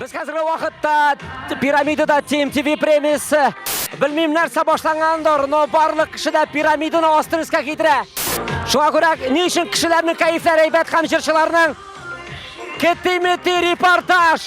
Без хәзерге вакытта пирамидада TMTV премиясе. Белмим нәрсә башлангандыр, но барлык кеше дә пирамиданы астырыска китерә. Шуңа күрә ни өчен кешеләрнең кәефләре әйбәт һәм җырчыларның китимити репортаж.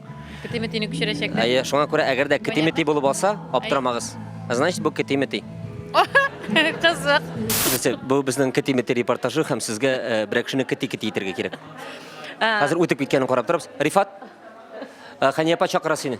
Кетиметине күчерәчәкләр. Әйе, шуңа күрә әгәр дә кетимети булып алса, аптырамагыз. Значит, бу кетимети. Кызык. Нәрсә, бу безнең кетимети репортажы һәм сезгә э, берәр кешене кети-кети итәргә кирәк. Хәзер үтеп киткәнен карап торабыз. Рифат, э, Хәния апа чакыра сине.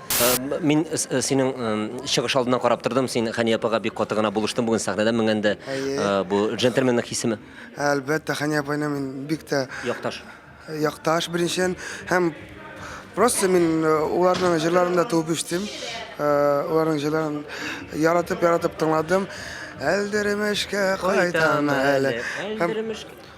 Мин синең чыгыш алдыннан карап тордым, син Хәния апага бик каты гына булыштың бүген сәхнәдә менгәндә. Бу джентльменның хисеме? Әлбәттә, Хәния апайны мин бик тә якташ. Якташ беренчедән һәм просто мин уларның җырларында туып үстем. Уларның җырларын яратып-яратып тыңладым. Әлдеремешкә кайтам әле. Әлдеремешкә.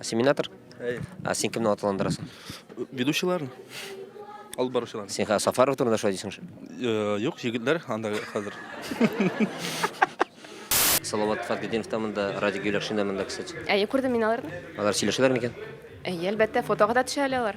Семинатор? Әй. Ә син кемне аталандырасың? Ведущийларны. Алып баручыларны. Син хәзер Сафаров турында шулай дисең шул. Э, Юк, егетләр анда хәзер. Салават Фатгединов та монда, Радик Юлякшин да монда, кстати. Әйе, күрдем мин аларны. Алар сөйләшәләр микән? Әйе, әлбәттә, фотога да төшә әле алар.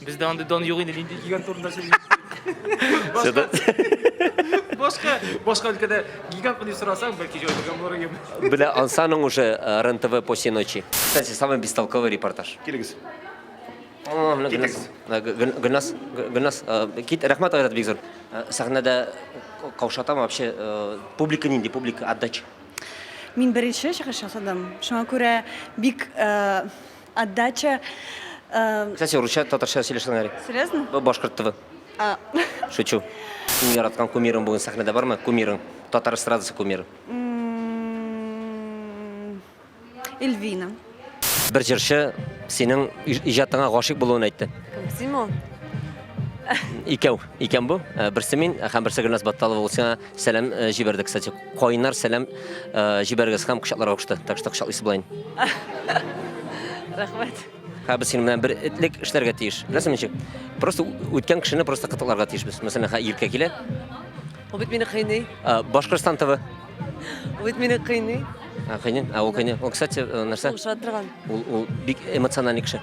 Бездә андый дон юк инде, нинди гигант турында сөйлисең. Башка, башка өлкәдә гигантмы дип сорасаң, бәлки җавап биргән булыр идем. Бля, ансаның уже э, РНТВ по всей ночи. Кстати, самый бестолковый репортаж. Килегез. О, менә Гөлназ. Китегез. Э, Гө- Гөл- Гөлназ, Гө- Гөлназ, э, кит, рәхмәт Айрат бик зур. Э, Сәхнәдә каушатам вообще, э, публика нинди, публика отдача. Мин беренче чыгыш ясадым. Шуңа күрә бик э, Отдача. Э, Кстати, русча, татарча сөйләшә Нари. Серьезно? Бу башкорт тв. А. Шучу. Иң яраткан кумирың бүген сәхнәдә бармы? Кумирың. Татар эстрадасы кумиры. Эльвина. Бер җырчы синең иҗатыңа гашыйк булуын әйтте. Син ул? Икәү. Икән бу. Э, берсе мин һәм берсе Гөлназ Батталова. Ул сиңа Сәлам э, җибәрде, кстати. Кайнар сәлам э, җибәргез һәм кочакларга кушты. Так что кочаклыйсы булайын. Рәхмәт. Һә без синең белән бер этлек эшләргә тиеш. Беләсең ничек? Просто үткән кешене просто кытыкларга тиеш без. Мәсәлән, һә иркә килә. Ул бит мине кыйный. Э, Башкортстан ТВ. Ул бит мине кыйный. Кыйный. А ул кыйный. Ул, кстати, нәрсә? Ул шат торган. Ул ул бик эмоциональный кеше.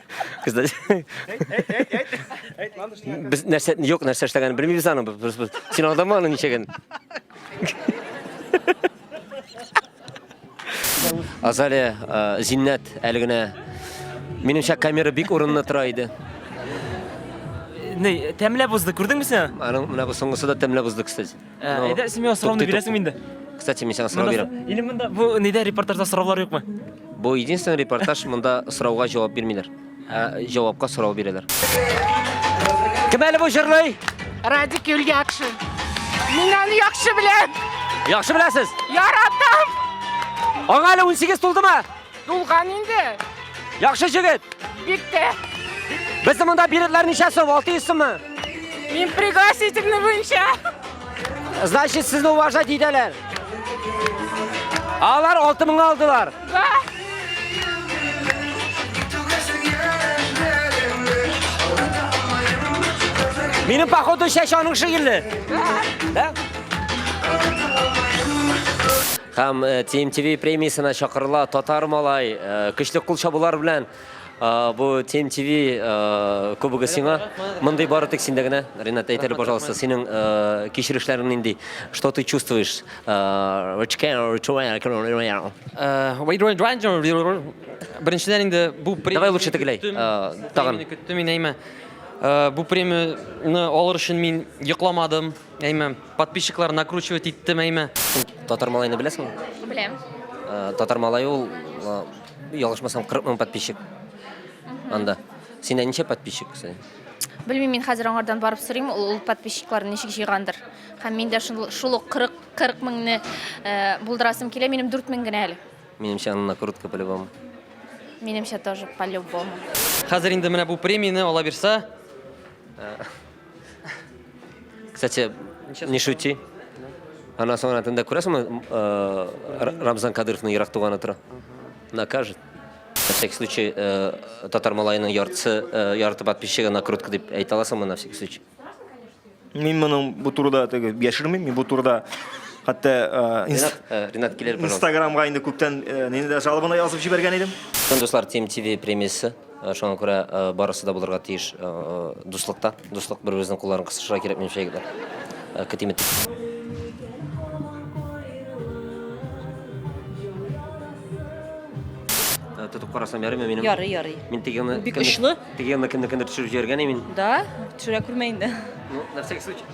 Без нәрсә, юк, нәрсә эшләгәнен белмибез аның. Син алдама аны ничәген. Азалия, э, Зиннәт әле генә минемчә камера бик урынлы тора иде. Ни, тәмләп узды, күрдеңме син? Аның менә бу соңгысы да тәмләп узды, кстати. Э, ну, әйдә, син миңа сорауны бирәсең инде. Кстати, мин сиңа сорау бирәм. Или монда бу нидә репортажда сораулар юкмы? Бу единственный репортаж, монда сорауга җавап бирмиләр. Ә җавапка сорау бирәләр. Кем әле бу җырлый? Радик Юльякшин. Мин аны яхшы беләм. Яхшы беләсез? Яратам. Аңа әле 18 тулдымы? Тулган инде. Яхшы җегет. Бик тә. Безнең монда билетлар ничә сум? 600 суммы? Мин пригласительный буенча. Значит, сезне уважать итәләр. Алар 6000 алдылар. Да. Минем походу шәш аның шигырьле. Да. Да? Һәм TMTV премиясенә чакырыла татар малай. Көчле кул чабулар белән бу TMTV кубогы сиңа. Мондый бары тик синдә генә. Ренат, әйт әле, пожалуйста, синең кичерешләрең нинди? Что ты чувствуешь? Беренчедән инде бу премия. Давай лучше тегеләй. Тагын. Көттем мин әйме. Бу премияне алыр өчен мин йокламадым. Әйме, подписчиклар накручивать иттем, әйме. Татар малайны беләсеңме? Беләм. Э, Татар малай ул, э, ялгышмасам, 40 мең подписчик. Анда. Синдә ничә подписчик? кстати? Белмим, мин хәзер аңардан барып сорыйм, ул, ул подписчикларын ничек җыйгандыр. Һәм мин дә шул, шул ук 40, 40 меңне э, булдырасым килә, минем 4 мең генә әле. Минемчә, аны накрутка по-любому. Минемчә тоже по-любому. Хәзер инде менә бу премияне ала бирсә, Кстати, не шути. Аннан соң тында күрәсеңме, э, Рамзан Кадыровның ерак туганы тора. Накажет. На всякий случай, э, татар малайының яртысы, э, ярты подписчигы накрутка дип әйтә аласыңмы на всякий случай? Мин моның бу турыда теге яшермим, мин бу турыда хәтта э, инст- Ренат, э, Ренат килер, пожалуйста. инстаграмга инде күптән э, нинди дә жалобаны язып җибәргән идем. Дуслар, Тим ТВ премиясе. Шуңа күрә барысы да булырга тиеш дуслыкта. Дуслык бер-беребезнең кулларын кысышырга кирәк минемчә егетләр. Көтим ит. Тотып карасам ярыймы минем? Ярый, ярый. Мин тегены Бик очлы. Тегены кемне кемдер төшереп җибәргән мин. Да, төшерә күрмә инде. Ну, на всякий случай.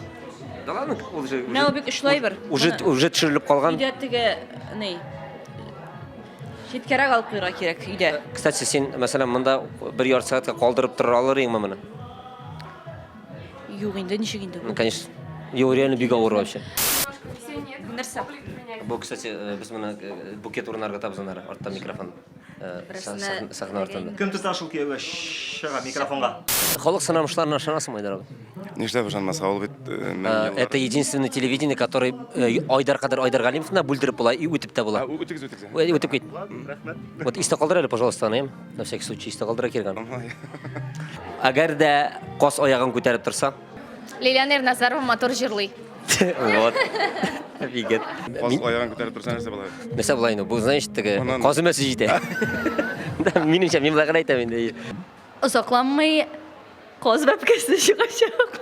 Да ладно, ул же. Менә ул бик очлы әйбер. Уже уже төшерелеп калган. Өйдә теге, ни, Читкәрәк алып куйырга кирәк өйдә. Кстати, син, мәсәлән, монда бер ярты сәгатькә калдырып тора алыр идеңме моны? Юк инде, ничек инде? Ну, конечно. Юк, реально бик авыр вообще. Нәрсә? Бу, кстати, э, без моны э, букет урынарга табыз аннары, артта микрофон. э, са- Берсенә сах- Сахна артында. Кем тота шул кияүгә чыга микрофонга? Халык сынамышларына ышанасыңмы, Айдар абый? Нишләп ышанмаска, ул бит э, мең Э, еллар- Это единственное телевидение, который э, Айдар Кадыр Айдар Галимов да бүлдереп була и үтеп тә була. А, ү- Үтегез, үтегез. Ү- Үтеп кит. Вот истә калдыр әле, пожалуйста, аны, эм. на всякий случай, истә калдыра кергән. Ай. Әгәр дә кос аягын күтәреп торса, Лилиана Ирназарова матур җырлый. вот. Бигет. Каз аягын күтәреп торса нәрсә була? Нәрсә була инде? Бу, значит, теге Анан- казы мәсе җитә. Да, Минемчә, мин болай гына әйтәм инде. Озакланмый каз бәбкәсе чыгачак.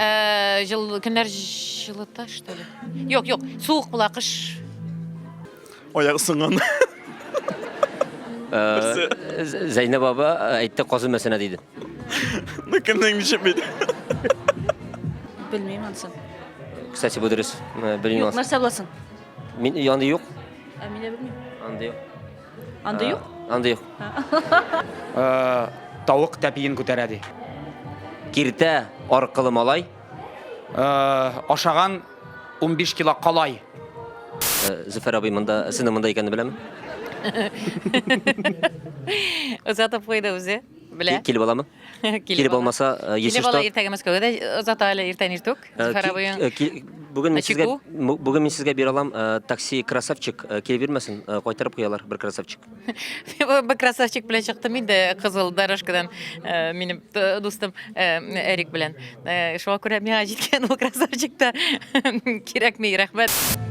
Ә, жыл, көннәр җылыта, что ли? Юк, юк, суык була, кыш. Аяк сынган. Э, Зәйнәб баба э, әйтте казы мәсенә диде. Ну кемнең ничек бит? Белмим ансын. Кстати, бу дөрес. Э, Белмим. Нәрсә буласын? Мин янды юк. Ә мин дә белмим. Анда юк. Андый юк? Андый юк. Тавык тәпиен күтәрә ди. Киртә аркылы малай. Ашаган 15 кило калай. Зөфәр абый монда, синең монда икәнне беләме? Озатып куйды үзе. Белә. Килеп аламы? Килеп алмаса, если что. Килеп ала иртәгә Мәскәүгә дә озата әле иртән иртүк. Э, Зәхәр абый. Э, бүген мин сезгә бүген мин сезгә бирә алам э, такси красавчик килеп бирмәсен кайтарып куялар бер красавчик. Бер красавчик белән чыктым инде кызыл дорожкадан минем дустым Эрик белән. Шуңа күрә миңа җиткән ул красавчик та кирәкми, рәхмәт.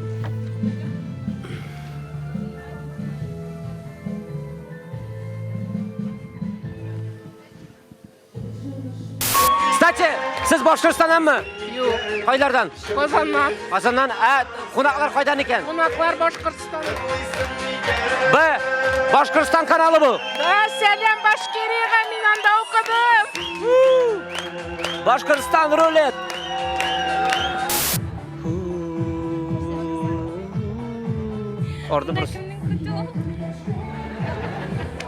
Кстати, сез Башкортстаннанмы? Юк. Кайлардан? Казаннан. Казаннан. Ә кунаклар кайдан икән? Кунаклар Башкортстан. Б. Башкортстан каналы бу. Да, сәлам Башкирига, мин анда укыдым. Башкортстан рулет. Orada burası.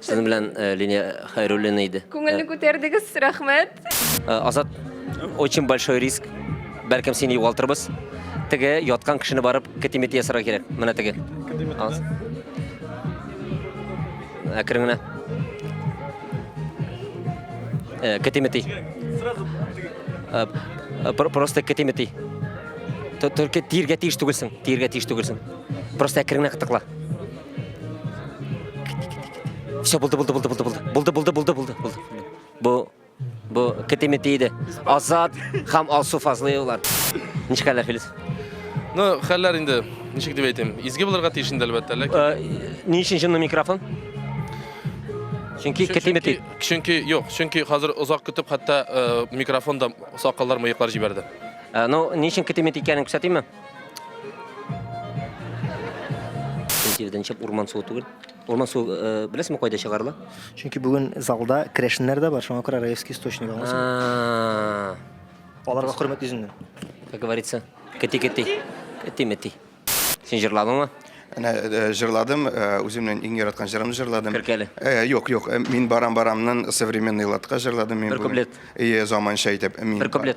Сезнең белән э, Линия Хайруллина иде. Күңелне күтәрдегез, рәхмәт. Э, Азат, очень большой риск. Бәлкем сине югалтырбыз. Теге яткан кешене барып китимити ясарга кирәк. Менә теге. Алыңыз. Әкрен генә. Э, Китимити. Э, э, про- Просто китимити. Т- Только тиргә тиеш түгелсең, тиргә тиеш түгелсең. Просто әкрен генә кытыкла. Все, булды, булды, булды, булды, булды. Булды, булды, булды, булды, булды. Бу бу кетеме тиде. Азат һәм Алсу Фазлыевлар. Ничек хәлләр, Филис? Ну, хәлләр инде, ничек дип әйтим, изге булырга тиеш инде әлбәттә, ләкин Э, Ни өчен җынны микрофон? Чөнки кетеме тиде. чөнки юк, чөнки хәзер озак көтеп хәтта э, микрофон да сакаллар, мыеклар җибәрде. Э, Ну, ни өчен кетеме тикәнен күрсәтимме? Сентябрьдән чып урман суы түгел. Урман суы э, беләсеңме кайда чыгарыла? Чөнки бүген залда керәшеннәр дә бар, шуңа күрә Раевский источник аңласың. А, Аларга хөрмәт йөзеннән. Как говорится, кити кити. Кити мети. Син җырладыңмы? Әнә э, җырладым, э, үземнең иң яраткан җырымны җырладым. Керкәле. Э, Юк, юк, э, мин барам-барамнан современный латка җырладым мин. Бер бүген. куплет. Э, заманча итеп. Мин Бер ба- куплет.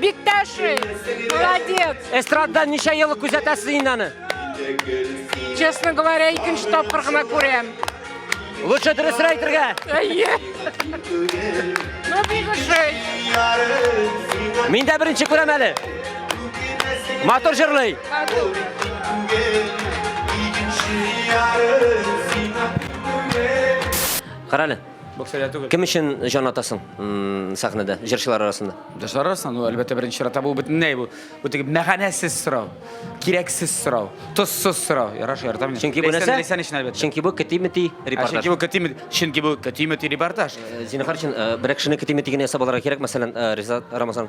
Бик тәшри, молодец. Эстрададан ничә ел күзәтәсез инде аны? Честно говоря, икенче тапкыр гына күрәм. Лучше дөресен әйтергә. Әйе. Ну, бик ошый. Мин дә беренче күрәм әле. Матур җырлый. Карале. Кем өчен җан атасың сәхнәдә, җырчылар арасында? Җырчылар арасында, ну, әлбәттә, беренче чиратта бу бөтенләй бу. Бу теге мәгънәсез сорау, кирәксез сорау, тозсыз сорау. Яраш, яратам мин. Чөнки бу нәрсә? Ләйсән өчен әлбәттә. Чөнки бу кети-мети репортаж. Чөнки бу кети-мети, чөнки бу кети-мети репортаж. Зинхар өчен берәр кешене кети-мети генә ясап алырга кирәк, мәсәлән, Ризат Рамазан.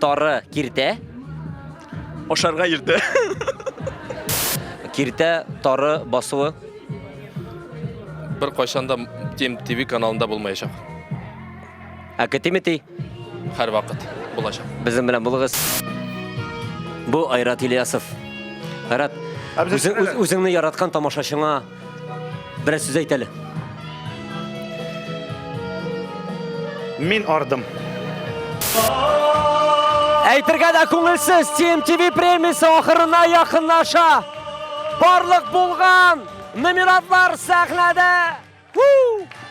Тары киртә. Ашарга иртә. Киртә тары басуы. Бер кайчан да Тим ТВ каналында булмаячак. Ә кетимити? Һәр вакыт булачак. Безнең белән булыгыз. Бу Айрат Ильясов. Айрат, үзеңне яраткан тамашачыңа Берәр сүз әйт әле. Мин ардым. Әйтергә дә күңелсез TMTV премиясе ахырына якынлаша. Барлык булган номератлар сәхнәдә. Woo!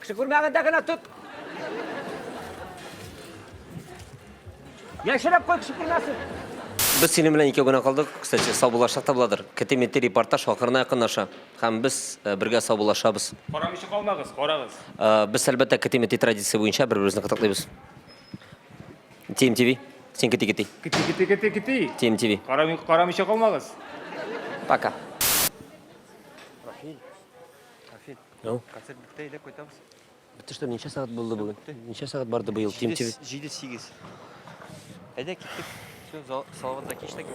Кеше күрмәгәндә генә тот. Яшереп кой, кеше күрмәсен. Без синең белән икәү генә калдык. Кстати, саубуллашсак та буладыр. Кете-мете репортаж ахырына якынлаша. Һәм без э, бергә саубуллашабыз. Карамыйча калмагыз, карагыз. Э, Без, әлбәттә, кете-мете традиция буенча бер-беребезне кытыклыйбыз. TMTV, син кити-кити. Кити, кити, кити, кити. TMTV. Карамый, карамыйча калмагыз. Пока. Ну? Концерт бетте, әйдәп кайтабыз. Бетте что, ничә сәгать булды бүген? Ничә сәгать барды быел Тим ТВ? 7-8. Әйдә киттек. Все, зал- салаватта киштек.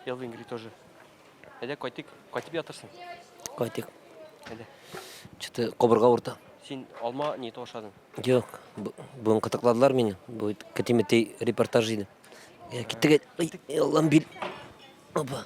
Ел Ингри тоже. Әйдә кайтык. Кайтып ятырсың. Кайтык. Әйдә. Что-то кобырга урта. Син алма не то ашадың. Юк, бу- бүген кытыкладылар мине. Бу кәтимәтей репортаж иде. Э, киттек. Ай, э, Аллам бил. Опа.